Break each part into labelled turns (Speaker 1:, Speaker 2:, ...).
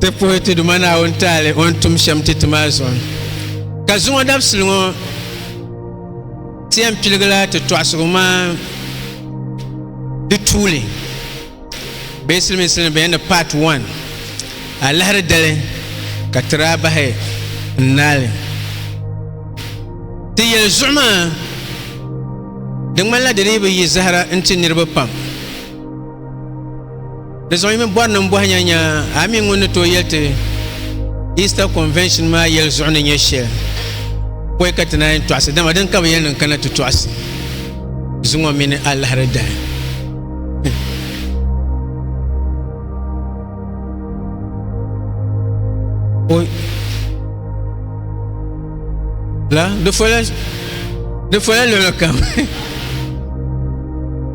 Speaker 1: Ti puhi ti Duuma Naawuni taali o ni tum shɛm ti ti maa zuɣu. Ka zuŋɔ dabisili ŋɔ, ti yɛn piligila ti tɔɣisigu maa di tuuli bee silimiinsi ni bɛ yɛn ni part 1 alahiri dali ka ti daa bahi n-naali. Ti yɛli zuɣu maa di ŋmanila di dii bi yi zahira n-ti niriba pam. Di zuɣu yi mini bɔri niŋ bɔhi nya nya a mi ŋun ni tooi yɛli ti Easter Convention maa yɛli zuɣu ni nyɛ shɛli pɔi ka ti naan yɛn tɔɣisi dama din ka bi yɛli niŋ kana ti tɔɣisi zuŋɔ mini alahiri dahi la di fola luɣuli kam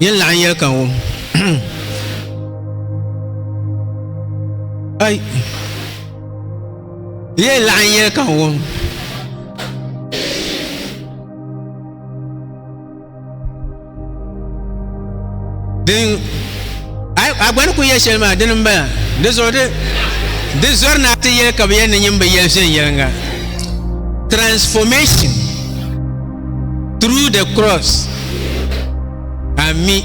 Speaker 1: Yin laɣin yɛli ka wum. Ai. Yin laɣin yɛli ka wum. Din a gba ni ku yɛ shɛli maa dini n bala di zuɣu di di zɔri na ti yɛli ka bi yɛn ni nyin bi yɛli viɛnyɛlinga transformation Through the cross. Ami.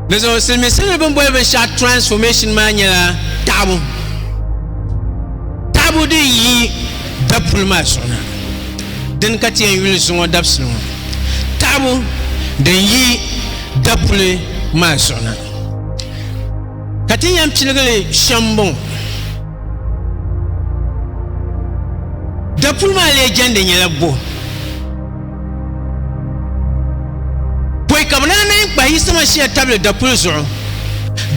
Speaker 1: Di zuɣu silimiinsi ni bin boli binshaɣu transformation maa nyɛla taɣabu. Taɣabu din yi dapuli maa zuɣu na. Din ka ti yɛn yuli zuŋɔ dabisili ŋɔ. Taɣabu din yi dapuli maa zuɣu na. Ka ti yɛn piligi li shɛm m-bɔŋɔ, dapuli maa lee jɛndi nyɛla buɣim pɔi ka bɛ daa naai kpahi Yisama Shia tabili dapuli zuɣu.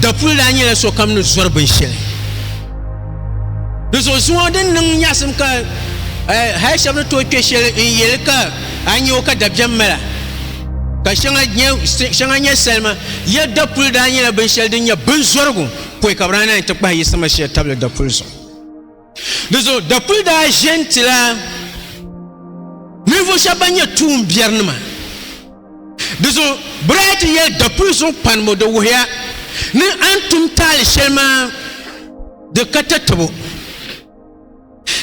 Speaker 1: Dapuli daa nyɛla sokam ni zɔri binshɛli. Di zuɣu zuŋɔ din niŋ nyaɣisim ka hal shɛba ni tooi kpe shɛli n-yɛli ka a nya o ka dabiɛm mala. ka shɛŋa nyɛ salima ya dapuli daa nyɛla binshɛli din nyɛ binzɔrigu pɔi ka bi daa naan ti kpahi yi sama shɛli tabili dapuli zuɣu di zuɣu dapuli daa ʒɛ n ti la ninvuɣu shɛba ban nyɛ tuun biɛri nima di zuɣu bi daa ti yɛli dapuli zuɣu panibu di wuhiya ni a ni tum taali shɛli maa di ka tatabo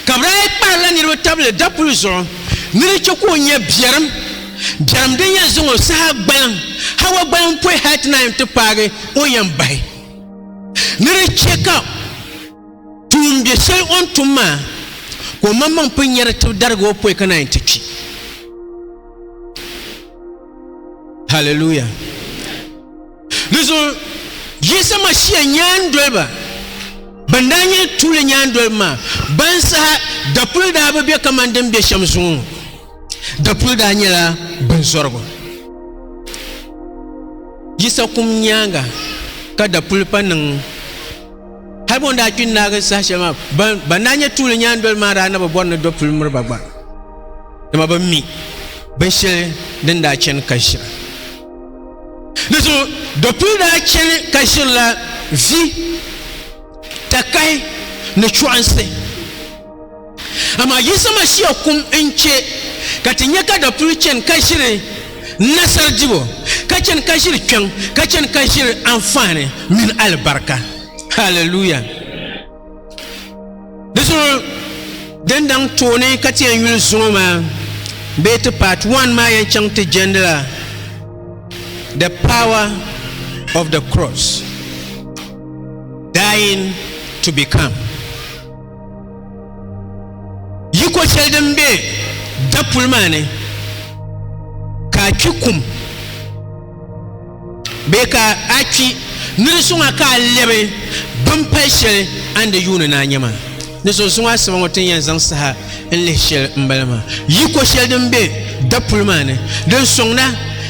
Speaker 1: Ka bɛ daa kpahirila niriba tabili dapuli zuɣu ni di chɛ ka o nya biɛrim, biɛrim din yɛn zaŋ o saha gbaliŋ Hawa gbaliŋ pɔi hal ti naan ti paagi o yɛn bahi. Ni di chɛ ka tuumbiɛ shɛli o ni tum maa ka o maŋmaŋ pun nya di tibi darigi o pɔi ka naan ti kpi. Hallelujah! Dizuɣu Yisa Mashia nyaandoliba ban daa nyɛ tuuli nyaandoliba maa ban saha dapuli daa bi be kamani din be shem zuŋɔ ŋɔ. Dapuli daa nyɛla binzɔrigu. Yisa kum nyaanga ka dapuli pa niŋ. Hali bɔ daa kpi naagi saha sheli maa ban ban daa nyɛ tuuli nyaandoliba maa daa na bi bɔri ni dapuli miriba gba. Dama bi mi binsheli din daa cheni ka ʒira. Di zuɣu Dɔkpuli daa chani ka ʒirila vi, takahi ni chɔɣinsi. Amaa Yisa Mashia kum n-che ka ti nya ka Dɔkpuli chani ka ʒiri nasar dibu, ka chani ka ʒiri kpiɔŋ, ka chani ka ʒiri anfaani mini alibarika. Hallelujah! Di zuɣu din daŋ tooni ka ti yɛn yuli zuŋɔ maa bee ti part one maa yɛn chaŋ ti jɛndila the power of the cross dying to become yiko shɛli din bɛ dapuli maa ni ka a kpi kum Bee ka a kpi ni di suŋ a ka a lɛbi bini pali shɛli a ni di yuuni ni a nya maa? Di zuɣu zuŋɔ asiba ŋɔ ti ni yɛn zaŋ saha n-lihi shɛli m-bala maa, yi ko shɛli din be dapuli maa ni din sɔŋda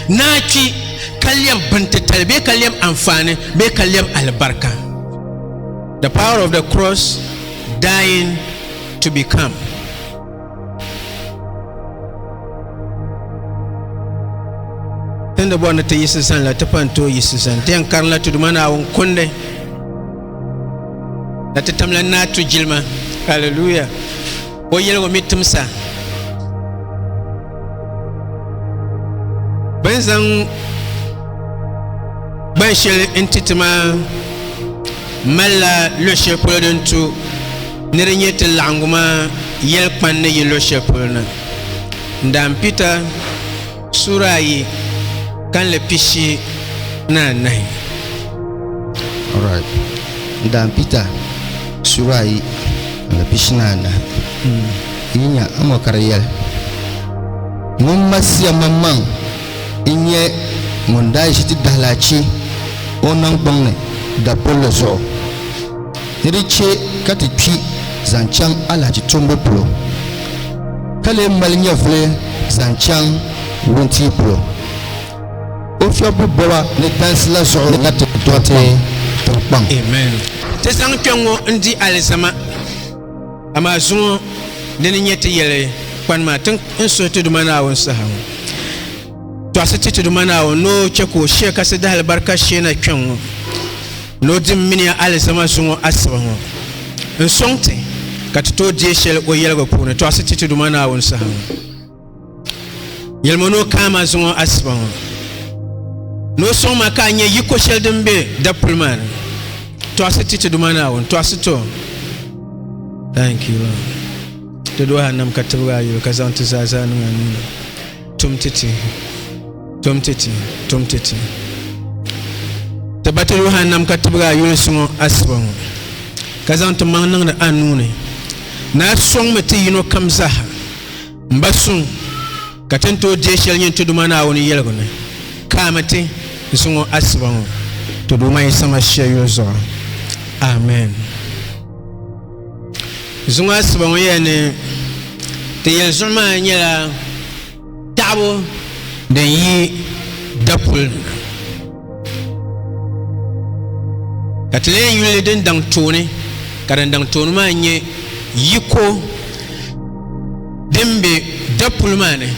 Speaker 1: ni a kpi ka lɛbi bintitali bee ka lɛbi anfaani bee ka lɛbi alibarika. The Power of the Cross, Dying to Become. Tin di bɔri ni ti yiɣisi zani la ti pa n-tooi yiɣisi zani. Di yɛn karinla ti Duuma Naawuni kundi la ti tamla n-naai tu jilima. Hallelujah! O yɛligu mi timsa. Bɛ ni zaŋ gban shɛli n-ti ti maa malila luɣ shɛli polo din tu ni di nyɛ ti laɣiŋgu maa yɛli kpani ni yi luɣ shɛli polo na. Ndaan Pita suura ayi kanli pishi ni anahi.
Speaker 2: Alright. Ndaan Pita suura ayi kanli pishi ni anahi. Yi nya amoo ka di yɛli, Ŋun Masia maŋmaŋ n nyɛ ŋun daa ʒi ti dahilachi o niŋgbuŋ ni dapulli zuɣu ni di chɛ ka ti kpi zaŋ chaŋ alahichi tumbu polo ka lee mali nyɛvuli zaŋ chaŋ wuntia polo o fiɛbbu bɔba ni dansi la zuɣu ni ka ti dɔriti tiŋkpaŋ. Amen.
Speaker 1: Ti zaŋ kpɛŋŋo n di alizama. Amaa zuŋɔ di ni nyɛ ti yɛli kpani maa, ti ni suhi ti Duuma Naawuni saha ŋɔ, tɔɣisi ti ti Duuma Naawuni ni o chɛ ka o shia kasi dahalibarika shee na kpiɔŋ ŋɔ ni o dimbini ya alizama zuŋɔ asiba ŋɔ n-sɔŋ ti ka ti tooi deei shɛli o yɛligu puuni tɔɣisi ti ti Duuma Naawuni saha ŋɔ. yɛlima ni o kana maa zuŋɔ asiba ŋɔ ni o sɔŋ ma ka a nyɛ yiko shɛli din be dapuli maa ni tɔɣisi ti ti duma naawuni tɔɣisi to thank you Lord. ti do hannam ka tibigi a yuli ka zaŋ ti zaa zaa niŋ a nuuni tum ti ti tum ti ti tum ti ti ti ba ti do hannam ka tibigi a yuli suŋɔ asiba ŋɔ ka zaŋ ti maŋ niŋdi a nuuni na sɔŋmi ti yino kam zaha M ba suŋ, ka ti ni tooi deei shɛli nyin ti Duuma Naawuni yɛligu ni, Ka a mi ti n suŋ o asiba ŋɔ ti Duuma Yisa Masia yuli zuɣu. Amen. Zuŋɔ asiba ŋɔ yɛli ni ti yɛli zuɣu maa nyɛla taɣibu din yi dapuli ni. ka ti lee yuli din daŋ tooni ka din daŋ tooni maa nyɛ yiko din be dapuli maa ni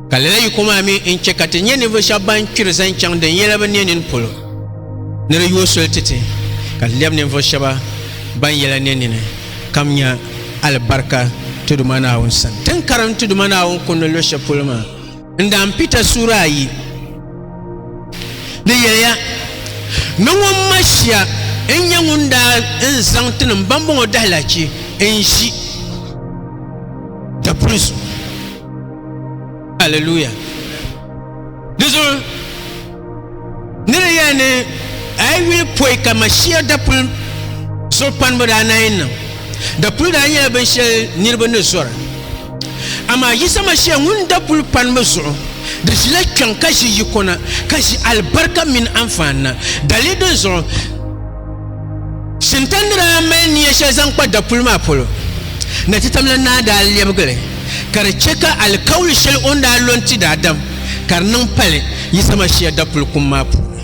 Speaker 1: ka lala yiko maa mi n chɛ ka ti nyɛ ninvuɣu shɛba ban kpiri zaŋ chaŋ din yɛla bi ne nini polo ni di yooi soli ti ti ka ti lɛbi ninvuɣu shɛba ban yɛla ne nini kam nya alibarika Tiduma Naawuni sani. Ti ni karim Tiduma Naawuni kundi luɣ shɛli polo maa, N daa n Pita suura ayi ni yɛliya ni ŋun ma shia n nyɛ ŋun daa n zaŋ ti nim bambɔŋɔ dahilachi n ʒi dapuli zuɣu. Hallelujah. Di zuɣu Ni di yɛli ni a yi yuli pɔi ka Mashia dapuli zuɣukpanibu daa naai niŋ, dapuli daa nyɛla binshɛli niriba ni zɔra. Amaa Yisa Mashia ŋun dapuli panimi zuɣu di ʒila kpiɔŋ ka ʒi yiko na, ka ʒi alibarika mini anfaani na. Dali dinzuɣu, Shinta ni daa mali nia shɛli zaŋ kpa dapuli maa polo, Nachitamla Naa daa lɛbigi li ka di chɛ ka alikauli shɛli o ni daa lo n-ti daadam ka di niŋ pali Yisa Mashia dapuli kum maa puuni.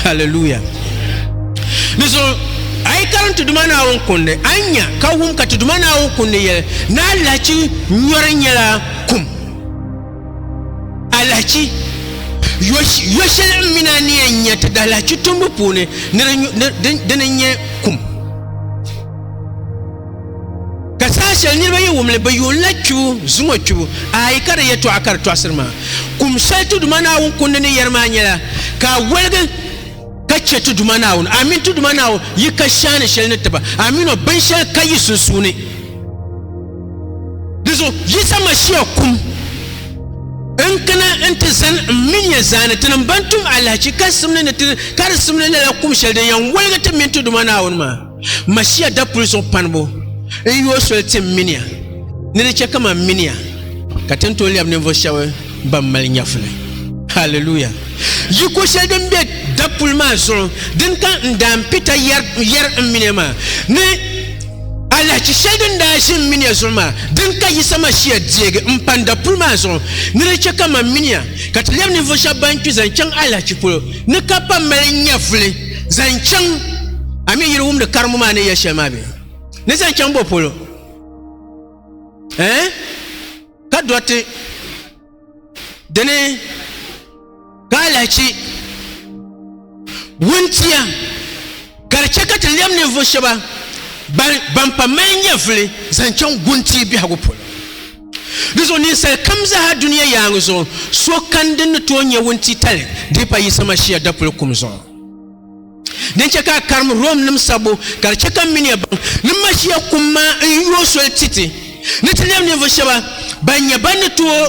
Speaker 1: Hallelujah! Di zuɣu a yi karim ti Duuma Naawuni kundi, a ni nya ka wum ka ti Duuma Naawuni kundi yɛli ni alahichi nyɔri nyɛla kum. Alahichi yo shɛli n mina ni yɛn nyɛ ti dahalahichi tumbu puuni di ni nyɛ kum ka saha shɛli niraba yi wumli bi yuunla kpibu zuŋo kpibu ayi ka di yɛtɔɣa ka di tɔɣasiri maa kum shɛli tuduma naawuni kundi ni yɛri maa nyɛla ka a woligi ka chɛ ti Duuma Naawuni, amin, ti Duuma Naawuni yi ka shɛhi ni shɛli ni ti ba, amin, o bin shɛli ka yi sunsuuni. Dizuɣu Yisa Mashia kum n kana nti zani m min ya zaani tinim ban tum alahichi karisimli ni ti karisimli lala kum shɛli din yan woligi ti min ti Duuma Naawuni maa. Mashia dapuli zuɣu panibu n yooi soli ti n miniya ni di chɛ ka man miniya ka ti ni tooi lɛbi ninvuɣ shɛba ban mali nyɛvuli. Hallelujah! Yiko shɛli din be dapuli maa zuɣu din ka n daan pita yɛri n miniya maa ni alahichi shɛli din daa ʒi n miniya zuɣu maa din ka Yisa Mashia deegi m pan dapuli maa zuɣu ni di chɛ ka man miniya ka ti lɛbi ninvuɣ shɛba ban kpi zaŋ chaŋ alahichi polo ni ka pa mali nyɛvuli. zaŋ chaŋ a mi yiri wumdi karimu maa ni yɛ shɛli maa bɛ ni zaŋ chaŋ bɔ polo eh? ka dɔriti dini ka alahichi wuntia ka di chɛ ka ti lɛm ninvuɣu shɛba ban pa mali nyɛvuli zaŋ chaŋ guntia biɛhigu polo Di zuɣu ninsal kam zaa dunia yaaŋa zuɣu, so kani din ni tooi nyɛ wuntitali dii pa Yisa Mashia dapuli kum zuɣu. Din chɛ ka a karim Rom nim sabbu ka di chɛ ka m miniya baŋ ni Mashia kum maa n-yooi soli ti ti ni ti lɛbi ninvuɣ shɛba ban nyɛ ban ni tooi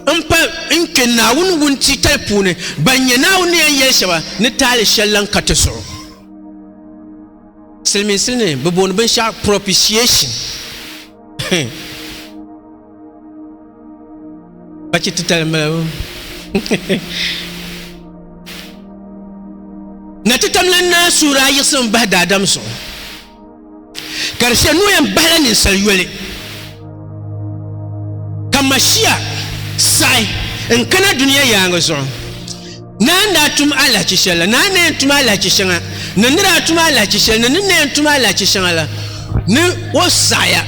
Speaker 1: m-pa n-kpe Naawuni wuntitali puuni, ban nyɛ Naawuni ni yɛn yɛli shɛba ni taali shɛl lan ka ti zuɣu. Silimiinsi ni bɛ booni binshɛɣu propitiation. Bachi titali n bala na ti tamla naa suura a yiɣisi n bahi daadam zuɣu ka di shɛ nuu yɛn bahila ninsal yoli ka mashia saɣi n kana duniya yaangi zuɣu Naa n daa tum alahichi shɛli la, naa n na yɛn tum alahichi shɛŋa ni ni daa tum alahichi shɛli ni ni na yɛn tum alahichi shɛŋa la ni o saɣiya,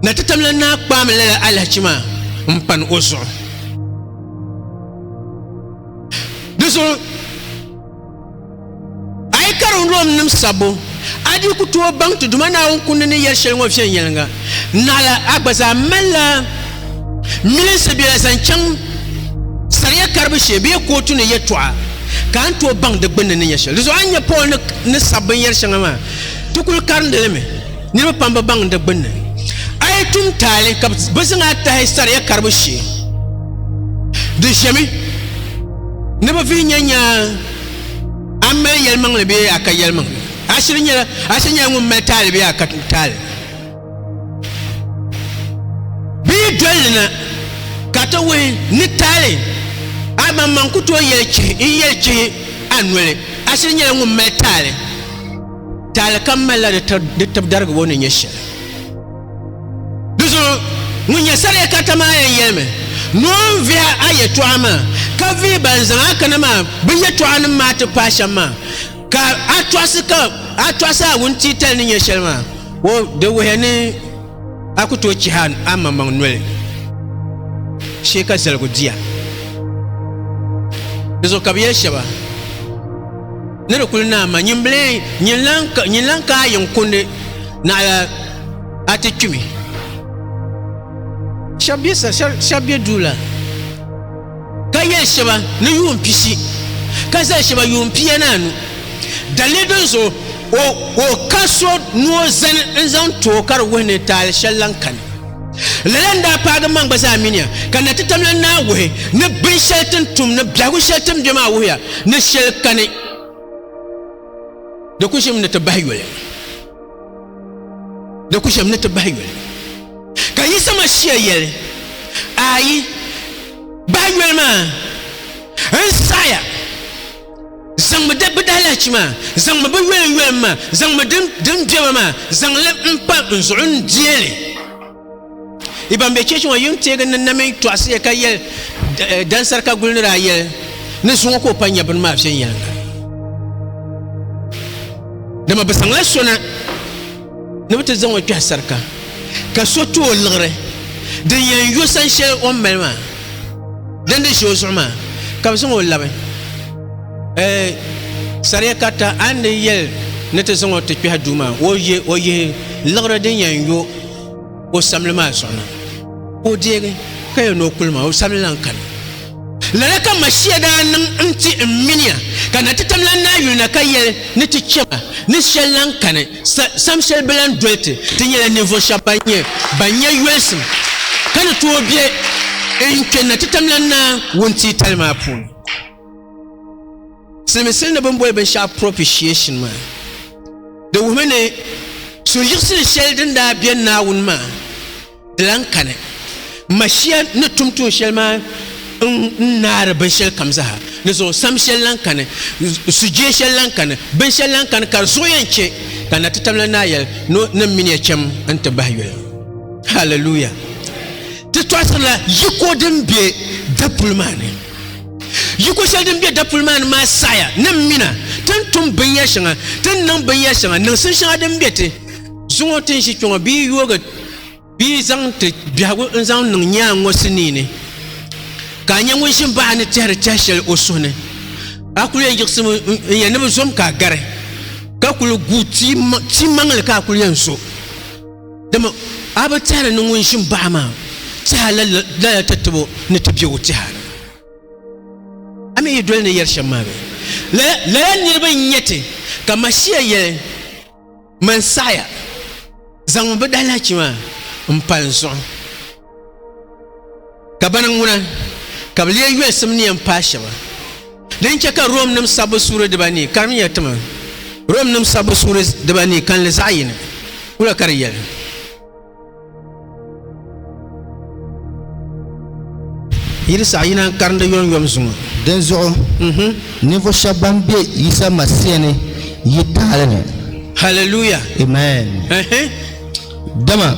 Speaker 1: na ti tam la naa kpaami lala alahichi maa m-pani o zuɣu. Di zuɣu. A yi karim Romnim sabbu, a dii ku tooi baŋ ti Duuma Naawuni kundi ni yɛli shɛli ŋɔ viɛnyɛliŋga. Naɣila a gba zaa malila milinsi bela zaŋ chaŋ saria karibu shee bee kootu ni yɛtɔɣa, ka a ni tooi baŋ di gbinni ni nya shɛli. Dizuɣu a ni nya Paul ni sabi binyɛr shɛŋa maa, ti kul karindi li mi. Niriba pam bi baŋ di gbinni. A yi tum taali ka bɛ zaŋ a tahi saria karibu shee, di ʒemi ni bɛ vihi nya nyaai. A mali yɛlimaŋli bee a ka yɛlimaŋli? A shiri nyɛla a shiri nyɛla ŋun mali taali bee a ka taali? Bi yi doli li na ka ti wuhi ni taali a maŋmaŋ ku tooi yɛli chihi n yɛli chihi a noli a shiri nyɛla ŋun mali taali. Taali kam malila di tibdarigibo ni nyɛ shɛli. Di zuɣu ŋun nyɛ sariya karita maa yɛn yɛlimi ni o ni vihi a yɛtɔɣa maa ka vihi ban zaŋ a kana maa bɛ yɛtɔɣanim maa ti paai shɛm maa, ka a tɔɣisi ka a tɔɣisi a wuntiitali ni nya shɛli maa, o di wuhiya ni a ku tooi chihi a maŋmaŋ noli shee ka zaligu di ya. Di zuɣu ka bɛ yɛli shɛba. Ni di kuli naai ma nyin bilee nyin lan ka a yiŋ kundi naɣila a ti kpimi. Shɛb be duu la ka yɛli shɛba ni yuun pishi ka zali shɛba yuun pia ni anu. Daliri din zuɣu o ka so ni o zani n-zaŋ ti o ka di wuhi ni taali shɛli lan kani. Lala n-daa paagi maŋ gba zaa miniya, ka na ti tamla naa wuhi ni binshɛli ti ni tum ni biɛhigu shɛli ti ni be maa wuhiya ni shɛli kani di ku ʒimi ni ti bahi yoli. Di ku ʒimi ni ti bahi yoli. Ka Yisa Mashia yɛli, Ayi, bahi yoli maa n-saɣiya. zaŋmi di bi daalahichi maa zaŋmi bi yɔlim yɔlim maa zaŋmi din din bɛba maa zaŋli n pa n zuɣu n diɛli i ban bɛ cheechi ŋɔ yim teegi ni na mini tɔɣisiya ka yɛli eh, dansari ka guli ni daa yɛli ni zuŋɔ ka o pa nyɛ bini maa viɛnyɛliŋga dama bi zaŋla sona Ni bɛ ti zaŋ o kpɛhi sarika, ka so tu o liɣiri din yɛn yo san shɛli o ni mali maa, din di ʒi o zuɣu maa, ka bɛ zaŋ o labi eh, saria karita a ni di yɛli ni ti zaŋ o ti kpɛhi duu maa, o yihi liɣiri din yɛn yo. o samli maa zuɣu na ka o deegi ka yɛn ni o kuli maa o samli lan kani lala ka mashia daa niŋ n ti n miniya ka na ti tamlan naa yuli na ka yɛli ni ti chɛma ni shɛli lan kani sam shɛli bi lan doli ti ti nyɛla ninvuɣ shɛb ban nyɛ ban nyɛ yolisim ka ni tooi bɛ n kpɛ na ti tamlan naa wuntiitali maa puuni Siliminsili ni bini boli binshɛɣu propitiation maa, di wuhimi ni suhuyiɣisili shɛli din daa be Naawuni maa di lan kani. Mashia ni tum tuun shɛli maa n-naari binshɛlikam zaa ni zuɣu sam shɛli lan kani, sujee shɛli lan kani, binshɛli lan kani ka di zuɣu yɛn chɛ ka Natitabilana Naa yɛli ni o ni min ya cham nti bahi yoli. Hallelujah! Ti tɔɣisirila yiko din be dapuli maa ni. Yiko shɛli din be dapuli maa ni maa saɣiya ni m mina ti ni tum binyɛr shɛŋa, ti ni niŋ binyɛr shɛŋa, niŋsim shɛŋa din be ti zuŋɔ ti ni ʒi kpiɔŋɔ bee yoogi bee zaŋ ti biɛhigu n-zaŋ niŋ nyaaŋ ŋɔ sinii ni, ka a nya ŋun ʒi m-baɣi a ni tɛhiri tɛh shɛli o suhu ni. A kul yɛn yiɣisimi n-yɛn ni bi zo m ka a gari, ka kul gu timaŋli ka a kul yɛn zo. Dama a bi tɛhiri ni ŋun ʒim baɣa maa tɛha lala ti tibo ni ti biɛgu tɛha ni. A mi yi doli ni yɛri shɛm maa bee? Lala, lala niriba n-nyɛ ti, ka Mashia yɛli, Man saɣiya, zaŋmi bɛ dahilahichi maa m-pa n zuɣu. Ka bana ŋuna ka bɛ lee yolisim ni yɛn paai shɛba. Din chɛ ka Romnim sabbu suuri dibanii karimiya ti ma, Romnim sabbu suuri dibanii kalinli zaɣ yini kula ka di yɛli. Yi di saɣi yina n-karim di yomyom zuŋɔ. Dinzuɣu
Speaker 2: ninvuɣ shɛb bɛn be Yisa Masia ni yi taali ni. Hallelujah!
Speaker 1: Amen! Ɛhɛn.
Speaker 2: Dama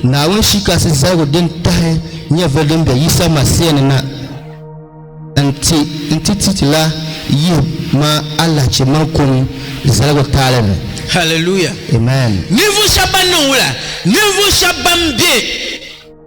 Speaker 2: Naawuni shi kasi zaligu din tahi nyɛvili din be Yisa Masia ni na nti nti ti ti la yihi ma alahichi mini kum zaligu taali ni. Hallelujah!
Speaker 1: Amen!
Speaker 2: Ninvuɣu shɛba ban niŋ
Speaker 1: wula? Ninvuɣu shɛba ban be.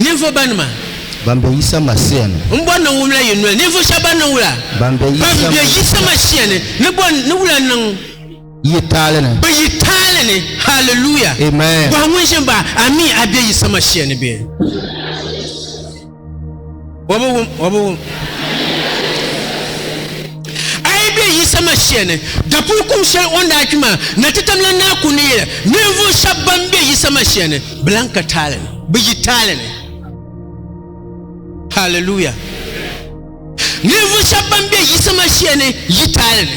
Speaker 1: Ninvuɣ banima. Ban be Yisa
Speaker 2: Masia ni. N bɔri ni n wumla yi
Speaker 1: noli. Ninvuɣ shɛba ban niŋ wula. Ban be Yisa Masia ni. Ni bɔri ni wula niŋ. Yi taali
Speaker 2: ni. Be yi taali
Speaker 1: ni. Hallelujah. Amen. Bɔhi ŋun
Speaker 2: ʒi m baɣa,
Speaker 1: Ami a be Yisa Masia ni bee? O bi wum, o bi wum. A yi be Yisa Mashia ni, dapuli kum shɛli o ni daa kpi maa, na ti tam la naa ku ni yɛla, ninvuɣu shɛba ban be Yisa Mashia ni bi lan ka taali ni, bi yi taali ni. Hallelujah! Ninvuɣu shɛba ban be Yisa Mashia ni yi taali ni.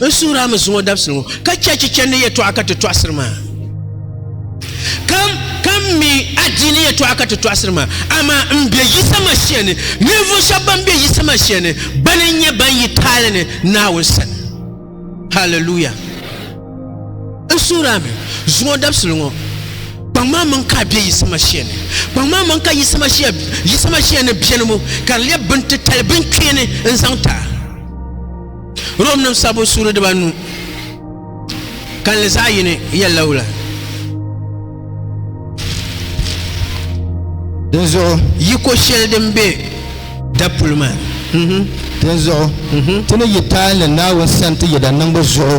Speaker 1: N suhiri a mi zuŋɔ dabisili ŋɔ, ka chɛ chichɛndi ni yɛtɔɣa ka ti tɔɣisiri ma. Kam, kam mi adiini yɛtɔɣa ka ti tɔɣisiri ma. Amaa m be Yisa Masia ni, ninvuɣ shɛba bɛn be Yisa Masia ni, bana n-nyɛ bɛn yi taali ni Naawuni sani. Hallelujah! N suhiri a mi zuŋɔ dabisili ŋɔ, kpaŋ ma maŋ ka a be Yisa Masia ni. Kpaŋ ma maŋ ka Yisa Masia, Yisa Masia ni beni ŋɔ, ka di lɛb bintitali binkpeeni n-zaŋ ti a. Romnim sabbu suuri dibanu kalinli zaɣ yini yɛlila wula?
Speaker 2: Dinzuɣu yiko shɛli din
Speaker 1: be dapuli maa.
Speaker 2: Dinzuɣu ti ni yi taali Naawuni sani ti yɛda niŋbu zuɣu.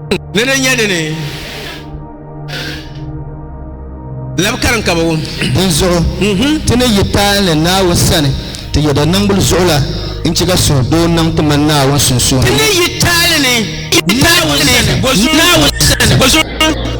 Speaker 1: ni di nyɛ dini labi karim ka bi wum dinzuɣu mhm.
Speaker 2: ti ni yi taali ni naawuni sani ti yɛda niŋbuli zuɣu la n chɛ ka suhu doo niŋ ti mani naawuni sunsuuni ti ni yi taali
Speaker 1: ni naawuni sani bo zuɣu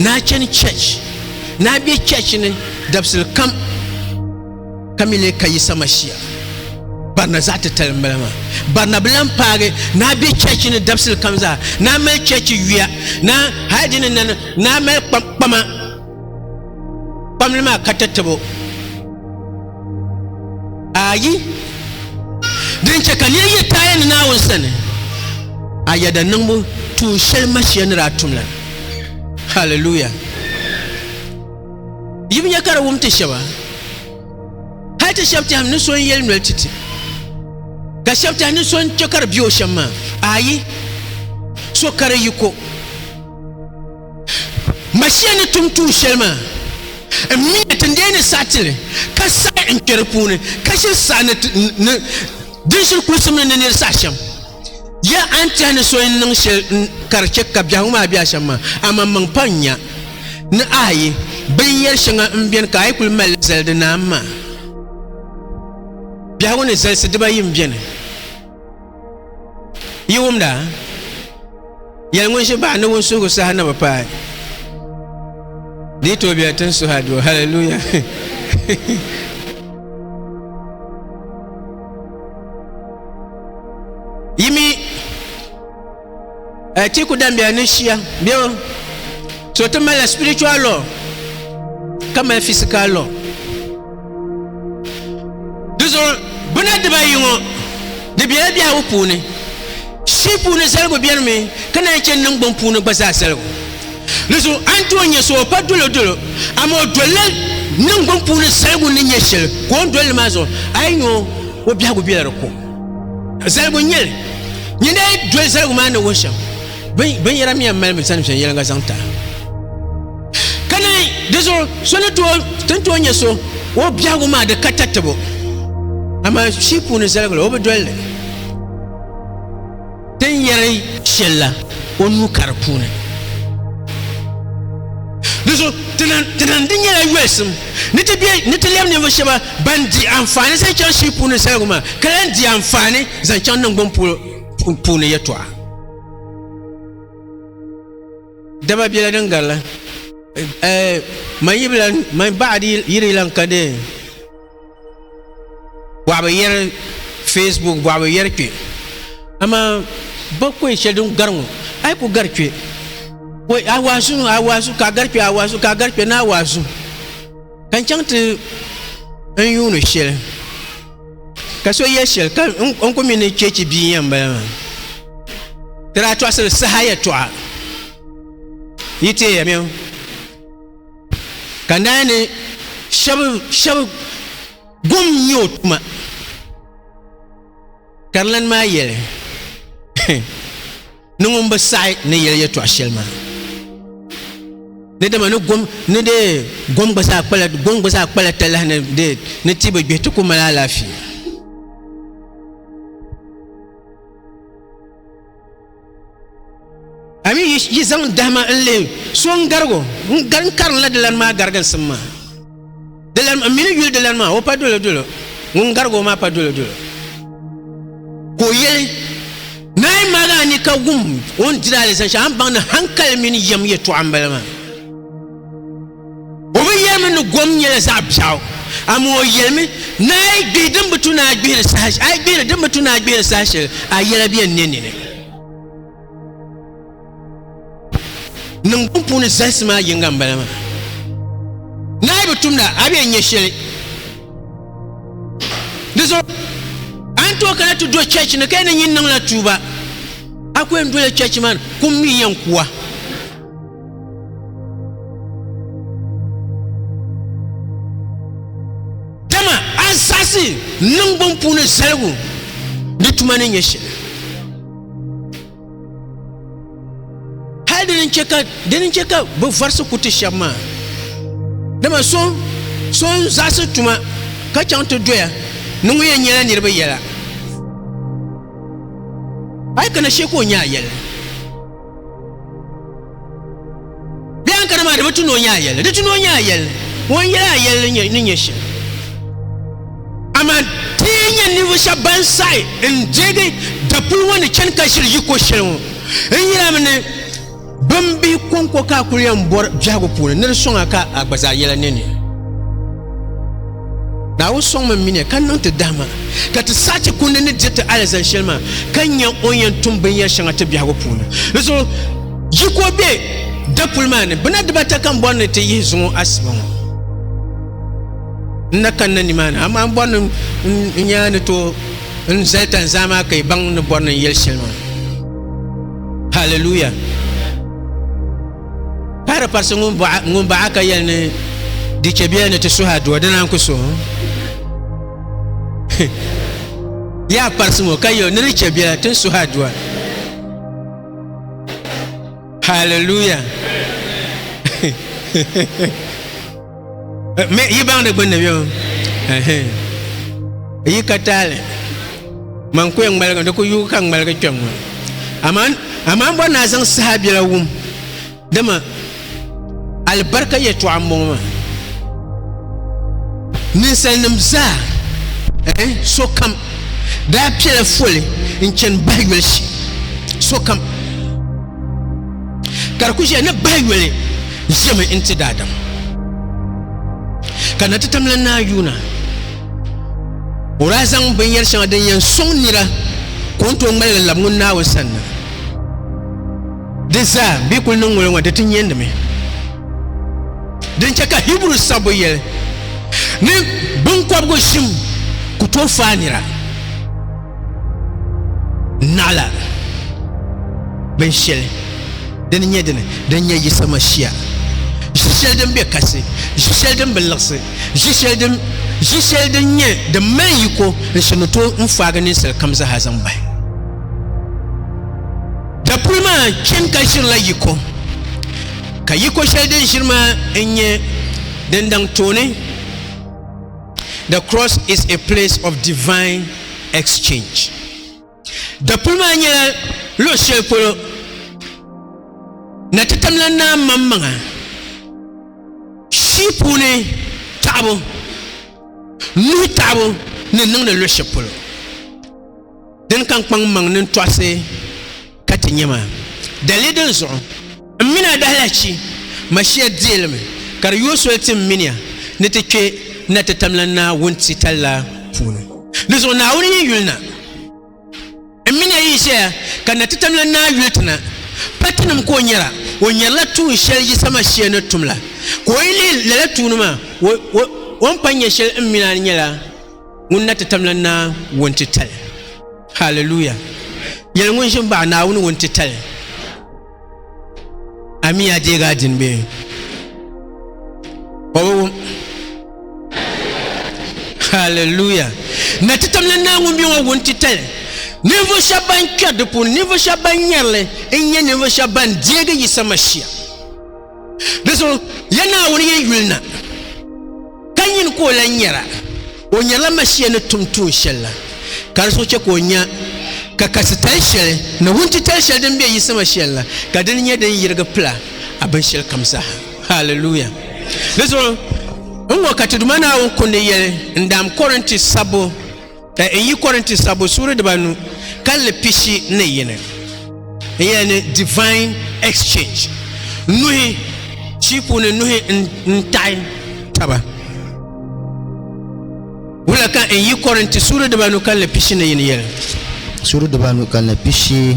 Speaker 1: naa chani church naa be church ni dabisili kam ka mi lee ka Yisa Mashia barina zaɣ titali m-bala maa barina bi lan paagi naa be church ni dabisili kam zaa naa mali church yuya naa hali di ni nani naa mali kpama Kpamli maa ka ti tabo. Ayi. Din chɛ ka nir yi taaya ni Naawuni sani, a yɛda niŋbu tuun shɛli Mashia ni daa tum la. Hallelujah! Yi bi nya ka di wum ti shɛba? Hal ti shɛb tɛhim ni so n-yɛli noli ti ti, ka shɛb tɛhi ni so n-chɛ ka di be o shɛm maa. Ayi, so kari yi ko. Masia ni tum tuun shɛli maa, n mi ya ti n lee ni saɣi ti li, ka saɣi n kpɛ di puuni, ka ʒiri saha ni di ni ʒiri kulisim ni ni nir saha shɛm. Ya a ni tɛhi ni so yɛn niŋ shɛli ka di chɛ ka biɛhigu maa be a shɛm maa, amaa maŋ pa n-nya ni a yi binyɛr shɛŋa m-beni ka a yi kul mal li zali di naam maa. Biɛhigu ni zalisi dibayi m-beni. yi wumda yɛli ŋun ʒi baɣa ni ŋun suhu saha ni bi paai di tooi biɛla tin suha doo haleluya Atiku dambiya ni shia bɛ o so ti mali spiritual law ka mali physical law di zuɣu bina dibayi ŋɔ di bela biɛhigu puuni shii puuni zaligu beni mi ka naan che niŋ gbun puuni gba zaa zaligu di zuɣu a ni tooi nyɛ so o pa dolo dolo amaa o dolila niŋ gbun puuni zaligu ni nyɛ sheli ka o ni dolili maa zuɣu a yi nyɛ o o biɛhigu bela di ko zaligu n-nyɛ li nyin daa doli zaligu maa ni wuhi shɛm binyɛra mi yɛn mali mi sani viɛnyɛla ka zaŋ tahi ka naan di zuɣu so ni tooi ti ni tooi nyɛ so o biɛhigu maa di ka tatabo amaa shii puuni zaligu la o bi doli li Din yɛri shɛli la o nuu ka di puuni. Di zuɣu ti niŋ di nyɛla yolisim ni ti bɛ ni ti lɛbi ninvuɣu shɛba ban di anfaani zaŋ chaŋ shii puuni zaligu maa ka lahi di anfaani zaŋ chaŋ niŋgbuŋ polo puuni yɛtɔɣa. Dama bela din garila, man yibila man baɣadi yiri lan ka dee. bɔɣibu yɛri facebook bɔɣibu yɛri kpɛ amaa ba kɔɛ shɛli din gari ŋɔ a yi ku gari kpɛ a waazu a waazu ka gari kpɛ a waazu ka gari kpɛ ni a waazu ka n chaŋ ti n yuuni shɛli ka so yɛ shɛli ka n ku mi ni chɛchi bia yɛn bala maa ti daa tɔɣisiri saha yɛtɔɣa yi teeya mi ka naan ni shɛba gom n-nyɛ o tuma karilani maa yɛli ni ŋun bi saɣi ni yɛli yɛtɔɣ shɛli maa ni dama ni dee gom gba zaa kpala talahi ni ti bi gbihi ti ku mali alaafee a mi yi zaŋ dahima n lihi so n garigo n gari n karinla dilani maa gariginsim maa dilani n mini yuli dilani maa o pa dolo dolo ŋun garigo maa pa dolo dolo ka o yɛli naai maaga a ni ka wum o ni diri alizan shɛli a ni baŋ ni hankali mini yɛm yɛtɔɣa n bala maa O bi yɛlimi ni gom nyɛla zaɣ biɛɣu, amaa o yɛlimi ni a yi gbihi din bi tu ni a gbihiri saha a yi gbihiri din bi tu ni a gbihiri saha shɛli a yɛla bɛ ni nini. Niŋgbuŋ puuni zalisi maa yinga n bala maa. Ni a yi bi tumda a bɛ nyɛ shɛli. Di zuɣu a ni tooi kana ti do chɛchi ni ka yɛn ni nyin niŋla tuuba a ku yɛn dola chɛchi maa ni kum mi yɛn kuwa. Dama a zaɣisi niŋgbun puuni zaligu ni tuma ni nyɛ shɛli. Hali dini n-chɛ ka dini n-chɛ ka bɛ vɔrisi ku ti shɛba maa. Dama so so n-zaɣisi tuma ka chaŋ ti doya ni ŋun yɛn nyɛla niriba yɛla. A yi kana shee ka o nya a yɛli. Bɛ yɛn kana maa di bi tu ni o nyɛ a yɛlli di tu ni o nyɛ a yɛlli ŋun yɛli a yɛlli ni nyɛ shɛm amaa ti yɛn nyɛ ninvuɣu shɛba ban saɣi n deegi dapuli ŋɔ ni chani ka ʒiri yiko shɛli ŋɔ n yɛlimi ni bin bi kɔŋko ka a kuli yɛn bɔri biɛhigu puuni ni di sɔŋ a ka a gba zaa yɛla nini Naawuni sɔŋmi n miniya ka niŋ ti dahima, ka ti saha chɛ kundi ni dir ti alizani shɛli maa, ka nya o ni yɛn tum binyɛr shɛŋa ti biɛhigu puuni. Di zuɣu yi ka o be dapuli maa ni, bɛ na dibata ka m bɔri ni ti yihi zuŋ o asiba ŋɔ. N na kanna nimaani, amaa m bɔri ni n nya ni tooi n zali tani zaa maa ka yi baŋ ni bɔri ni n yɛli shɛli maa. Haliluya! Pahiri parisi ŋun baɣa ka yɛli ni di chɛ biya ni ti suhi aduwa, di naan ku suhi Yaa parisi ŋɔ ka yɛli ni di chɛ biya ti suhi aduwa. Hallelujah. yi baŋ di gbunni bɛ yi ka taali man ku yɛn ŋmaligi di ku yugi ka ŋmaligi kpɛm ŋɔ amaa bɔ naa zaŋ saha biɛla wum dama alibarika yɛtɔɣa n bɔŋɔ maa ninsal nim zaa sokam daa piɛla foli n chɛni bahi yoli shee sokam ka di ku ʒiya ni bahi yoli ʒimi n-ti daadam ka na ti tamla naa yuuna o daa zaŋ binyɛr shɛŋa din yɛn sɔŋ nira ka o ni tooi ŋmaligi labi ŋun Naawuni sani na di zaa bɛ yi kuli niŋ ŋɔ ŋɔ di ti nyɛndimi din chɛ ka Hiburu sabbu yɛli ni biŋkɔbigu ʒim ku tooi faai nira naɣila bin shɛli din nyɛ dini din nyɛ Yisa Mashia ʒi shɛli din be kasi ʒi shɛli din bi liɣisi ʒi shɛli din ʒi shɛli din nyɛ din mali yiko n shini to n faagi ninsal kam zaha zaŋ bahi dapuli maa chɛn ka ʒirila yiko ka yiko shɛli din ʒiri maa n nyɛ din daŋ tooni The cross is a place of divine exchange. Dapuli maa nyɛla luɣi shɛli polo na ti tamla naa maŋmaŋa shii puuni taɣibu nuhi taɣibu ni niŋdi luɣi shɛli polo. din ka n kpaŋ maŋ nin tɔɣisi ka ti nyɛ ma. Dalili din zuɣu m mini a dahilahichi Mashia deelimi ka di yooi soli ti m minia ni ti kpe na ti tamlan naa wuntitali la puuni. Di zuɣu Naawuni yi yuli na, m minia yi ʒeya ka na ti tamlan naa yuli ti na, pa tinim ka o nyara, o nyarila tuun shɛli Yisa Mashia ni tum la. Ka o yi lihi lala tuuni maa, o ni pa nya shɛli m minia ni nyɛla. Ŋun na ti tam la naa ŋun ti tali. Hallelujah. Yɛli ŋun ʒin baɣa Naawuni ŋun ti tali. Ami ya deegi a din be. O bi wum. Hallelujah. Na ti tam la naa ŋun be ŋɔ ŋun ti tali. Ninvuɣu shɛba ban kpɛri di puuni, ninvuɣu shɛba ban nyɛrili n-nyɛ ninvuɣu shɛba ban deegi Yisa Mashia. Di so ya Naawuni yi yuli na, ka nyini ka o lan nyɛra, o nyɛrila Mashia ni tum tuun shɛli la, ka di so chɛ ka o nya ka kasi tali shɛli ni wuntitali shɛli din be Yisi Mashia ni la, ka dini nyɛ din yirigi pila a binshɛli kam zaa. Haleluya! Di zuɣu n-ŋɔ ka ti Duuma Naawuni kundi yɛli n-daam Kɔrinti sabbu, N yi Korinti Sabbu suuri dibanu kalinli pishi ni yini n yɛli ni divine exchange, nuhi shii puuni nuhi n taɣi taba. Wula ka n yi Korinti suuri dibanu kalinli pishi ni yini yɛli? Suuri dibanu
Speaker 2: kalinli pishi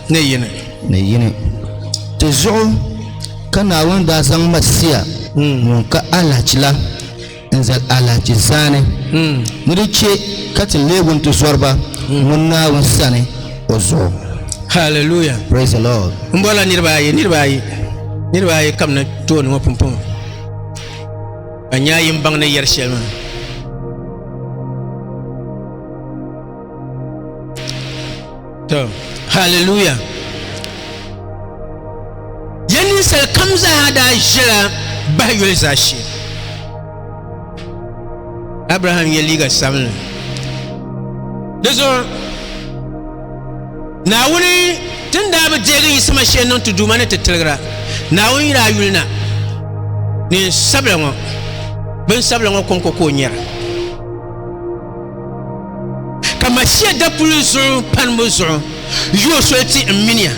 Speaker 2: ni yini.
Speaker 1: Ni yini. Ti
Speaker 2: zuɣu ka Naawuni daa zaŋ Masia ŋun ka alahichi la. n zal alahichi zaani ni di chɛ ka ti leegi n ti zɔriba ŋun Naawuni sani o zuɣu. Hallelujah!
Speaker 1: Praise the Lord!
Speaker 2: M bɔrila niriba ayi,
Speaker 1: niriba ayi, niriba ayi ka bɛ na tooni ŋɔ pumpɔŋɔ ka nya a yimbaŋ ni yɛri shɛli maa. To, hallelujah. Ya ninsal kam zaa daa ʒila bahi yoli zaa shee. Abraham ye liiga sabinli. Di zuɣu Naawuni tin daa bi deegi yi sama shee niŋ ti duuma ni ti tiligira Naawuni yira yuli na neen sabila ŋɔ bin sabila ŋɔ kɔŋko ka o nyɛra Ka Masia dapuli zuɣu panibu zuɣu yo soli ti n mini ya,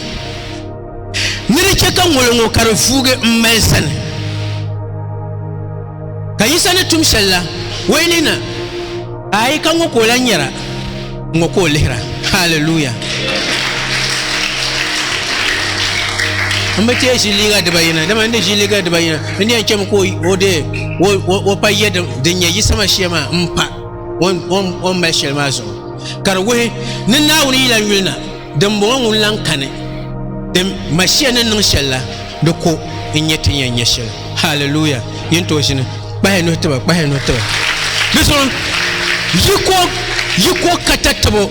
Speaker 1: ni di chɛ ka ŋoli ŋɔ ka di vuugi m mali sani. Ka Yisa ni tum shɛli la, o yi lihi na, aai, ka ŋɔ ka o lan nyara, ŋɔ ka o lihira. Haliluya! M bi teei ʒi liiga dibayina, dama n di ʒi liiga dibayina. N ni yɛn chɛmi ka o deei o pa yɛ din nyɛ yiɣisima shee maa m-pa o ni mali shɛli maa zuɣu. Ka di wuhi ni Naawuni yi lan yuli na, dimbɔŋɔ ŋun lan kani ti Masia ni niŋ shɛli la, di ko n-nyɛ ti ni yɛn nya shɛli. Hallelujah! Yi ni tooi ʒini, kpahi yi nuhi tiba, kpahi yi nuhi tiba. Di zuɣu yi ko, yi ko ka ta tabo.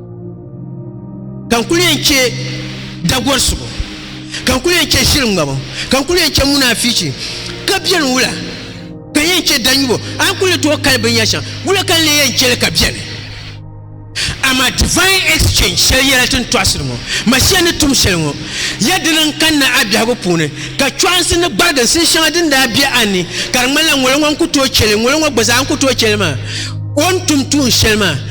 Speaker 1: ka n kuli yɛn chɛ dagɔrisigu ka n kuli yɛn chɛ ʒiri ŋmabu ka n kuli yɛn chɛ munaafichi ka bɛni wula ka yɛn chɛ danyubo a ni kuli tooi kali binyɛri shɛŋa wula ka n lee yɛn chɛli ka bɛni amaa divine exchange shɛli yɛla ti ni tɔɣisiri ŋɔ Masia ni tum shɛli ŋɔ ya dini n kanna a biɛhigu puuni ka chɔɣinsi ni gbariginsi n shɛŋa din daa bɛ a ni ka di ŋmanila ŋolo ŋɔ n ku tooi chɛli ŋolo ŋɔ gba zaa n ku tooi chɛli maa o ni tum tuun shɛli maa